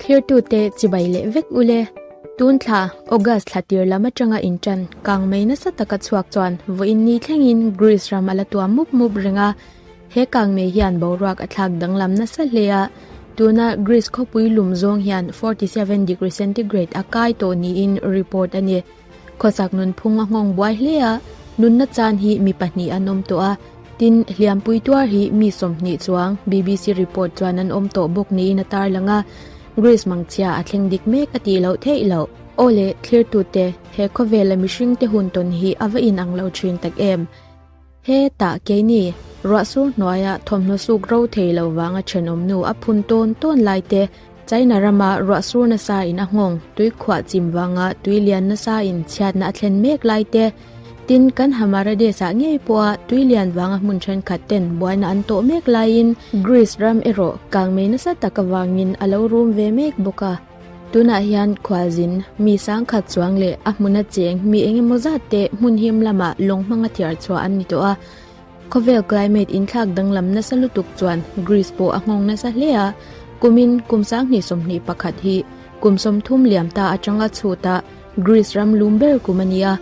Thirtu te chibai leh vek u le. Tun thla August thla tir lam atanga in tan kang mai nasa taka chhuak chuan vawiin ni thlengin Greece ram ala tuam mup mup renga he kang mai hian boruak a thlak danglam nasa hle a tuna Greece khawpui lum zawng hian 47 degree centigrade a kai tawh niin report a ni Khawsak nunphung a nghawng buai hle a, nunna chan hi mi pahnih an awm tawh a, tin, Hliampui tuar hi mi sawmhnih chuang bbc report chuan an awm tawh bawk niin a tarlang a, Grace Mangchhia a thleng dik mek a tih loh theih lo. Aw le, thlir tute, he khawvel a mihringte hun tawn hi a va inang lo thin tak em? He tah keini ruah sur hnuaia thawmhnaw suk ro thei lo vanga thenawmnu a phun tawn tawn lai te, China rama ruah sur nasain a nghawng tuikhuah chim vanga tui lian nasain chhiatna a thlen mek lai te, tin, kan Hamaradesah ngei pawha tui lian vanga hmun thenkhat ten buaina an tawh mek laiin Greece ram erawh kang mei nasa tak avangin a lo rum ve mek bawk a. Tunah hian khualzin, mi sangkhat chuang leh a hmuna cheng, mi eng emaw zat te hmun him lama lawng hmanga thiar chhuah an ni tawh a. Khawvel climate inthlak danglam nasa lutuk chuan Greece pawh a nghawng nasa hle a. Kumin kum sanghnih sawmhnih pakhat hi kum sawmthum liam ta atanga chhut a, Greece ram lum ber kum a ni a.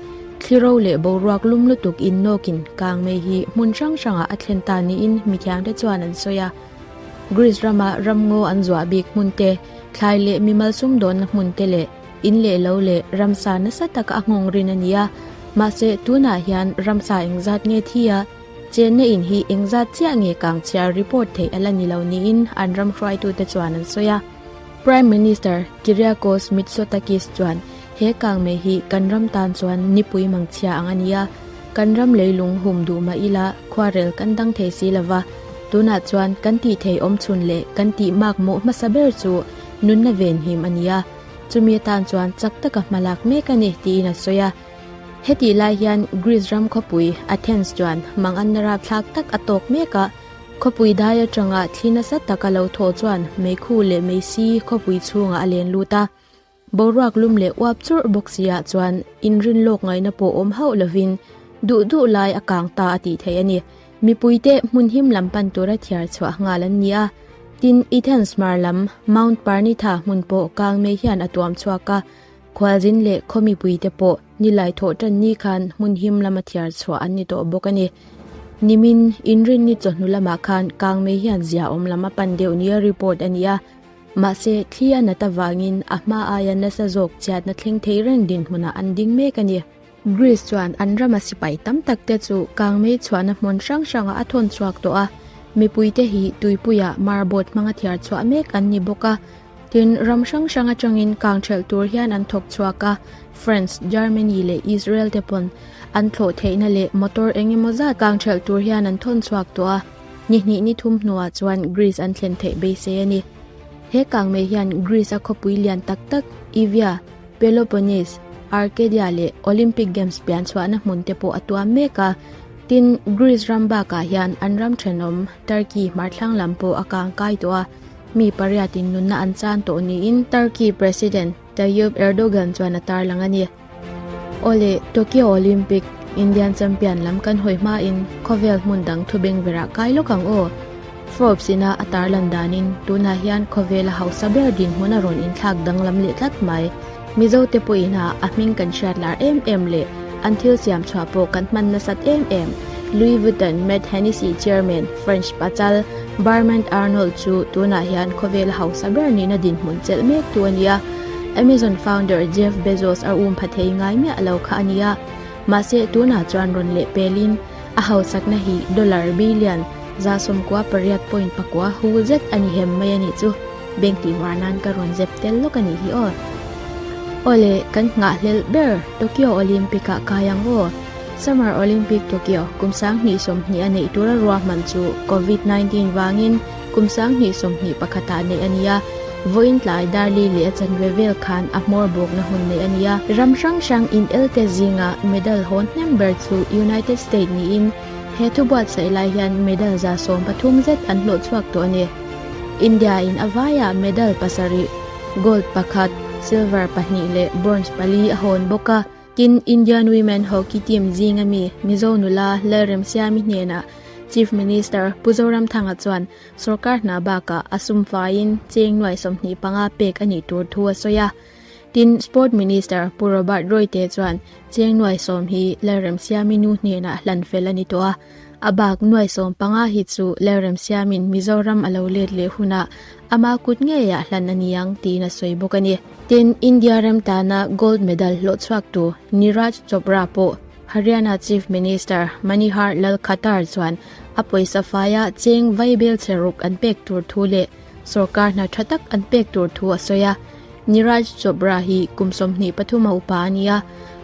Thli ro leh boruak lum lutuk innawkin kang mai hi hmun hrang hrangah a thlen ta niin mithianghte chuan an sawi a. Greece rama ramngaw an zuah bik hmun te, thlai leh mi malsum dawnna hmun te leh in leh lo leh ramsa nasa taka a nghawng rin a ni a. Mahse, tunah hian ramsa engzat nge thi a, chenna in hi engzat chiah nge kang chhiar report theih a la ni lo niin an ramhruaitute chuan an sawi a. Prime Minister Kyriakos Mitsotakis chuan He kang meh hi kan ram tan chuan nipui mang chhia ang a ni a, kan ram leilung hum duh mah ila khuarel kan dang thei si lo va, tunah chuan kan tih thei awm chhun leh kan tih mak mawh hmasa ber chu nunna venhim a ni a, chumi atan chuan chak taka hmalak mek a ni tiin a sawi a. Hetih lai hian Greece ram khawpui Athens chuan hmang anna rapthlak tak a tawk mek a, khawpui dai atanga thli nasa tak a lo thaw chuan meikhu leh meisi khawpui chhungah a len lut a. Boruak lum leh uap churh bawk si ah chuan in rin lawk ngaihna pawh awm hauh lovin duh duh lai a kang ta a tih theih a ni. Mipui te hmun him lam pan tura thiar chhuah nghal an ni a, tin i Tensmar lam Mount Parnitha hmun pawh kang mei hian a tuam chhuak a, khualzin leh khaw mipui te pawh ni lai thawh tan ni khan hmun him lama thiar chhuah an ni tawh bawk a ni. Nimin in rin ni chawhnu lamah khan kang mei hian zia awm lama pan deuh nia report a ni a. Mahse, thli a nat avangin a hma aia nasa zawk chiatna thleng thei reng dinhmunah an ding mek a ni. Greece chuan an rama sipai tam tak te chu kang mei chhuahna hmun hrang hrangah a thawn chhuak tawh a, mipui te hi tuipuia marbot hmanga thiar chhuah mek an ni bawk a, tin, ram hrang hrang atangin kang ṭhelh tur hian an thawk chhuak a, France, Germany leh Israel te pawn an thlawh theihna leh motor eng emaw zat kang ṭhelh tur hian an thawn chhuak tawh a. Ni hnih ni thum hnuah chuan Greece an thlen theih beisei a ni. He kang mei hian Greece-a khawpui lian tak tak Evia, Peloponnese, Arcadia leh Olympic Games pian chhuahna hmun te pawh a tuam mek a. Tin, Greece ram bakah hian an ram thenawm Turkey hmarthlang lam pawh a kangkai tawh a, mi pariatin nunna an chan tawh niin Turkey President Tayyip Erdogan chuan a tarlang a ni. Aw le, Tokyo Olympic Indian Champion lam kan hawi hmain khawvel hmun dang thu beng berah kai lawk ang aw. Forbes ina a tarlan danin tunah hian khawvela hausa ber dinhmun a rawn inthlak danglam leh tlat mai. Mizote pawhin ha a hming kan hriatlar em em le an thil siam chhuah pawh kan hman nasat em em, Louis Vuitton Mad Hennessy Chairman French pachal, Barmand Arnold chu tunah hian khawvela hausa ber nihna dinhmun chelh mek tu a ni a, Amazon founder Jeff Bezos a um pha thei ngai miah lo kha a ni a. Mahse, tunah chuan rawn leh pelin a hausakna hi dollar billion, za sawmkua pariat point pakua, hul zet a ni hem mai a nih chu. Beng tih var nan ka rawn zep tel lawk a nih hi aw. Awle, kan nghah hlelh ber Tokyo Olympic-ah kai ang aw. Summer Olympic Tokyo kum sang hnih sawmhnih a neih tura ruahman chu Covid nineteen vangin kum sang hnih sawmhnih pakhatah a neih a nia. Vawiin tlai darli leh a chanve vel khan a hmawr bawkna hun neih a nia. Ram hrang hrang inelte zinga medal hawn hnem ber chu United State niin he thu buatsaih lai hian medal za sawm pathum zet an hlawh chhuak tawh a ni. India in a vaia medal pasarih, gold pakhat, silver pahnih leh bronze pali a hawn bawk a. Tin, Indian Women Hockey Team zinga mi Mizo nula Lalrem Siami hnenah Chief Minister Pu Zoramthanga chuan sawrkar hna bakah a sum faiin cheng nuai sawmhnih panga pek a nih tur thu a sawi a. Tin, Sport Minister Pu Robert Roy te chuan cheng nuai sawm hi Lalrem Siami nu hnenah hlan fel a ni tawh a. A bak nuai sawm panga hi chu lerem siamin Mizoram a lo let leh hunah ama kut ngeiah hlan a ni ang tiin a sawi bawk a ni. Tin, India ram tana gold medal hlawhchhuaktu Niraj Chopra pawh Haryana Chief Minister Manihar Lal Khattar chuan a pawisa faia cheng vai belchhe ruk an pek tur thu leh sawrkar hna tha tak an pek tur thu a sawi a. Niraj Chopra hi kum sawmhnih pathuma upa a nia.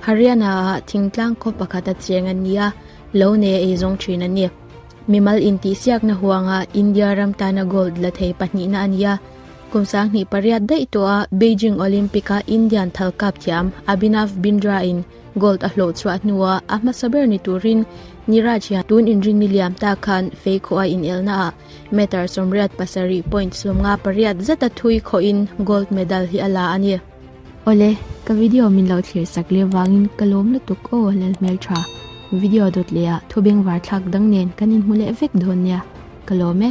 Haryana-ah thingtlang khaw pakhat a cheng a nia. Lo nei a ei zawng thin a ni. Mimal intihsiakna huanga India ram tana gold la thei pahnihna a ni a. Kum sang hnih pariat daih tawha Beijing Olympic a Indian thalkap thiam Abhinav Bindra-in gold a hlawh chhuah hnua a hmasa ber ni turin Niraj hian tun inring ni liam ta khan fei khawh a inelnaah meter sawmriat pasarih point sumnga pariat zeta thui khawhin gold medal hi a la a ni. Awle, ka video min lo thlir sak leh vangin ka lawm lutuk aw a lal hmel tha. Video dawt leh ah thubeng var thlak dang nen kan inhmu leh vek dawn nia, ka lawm e.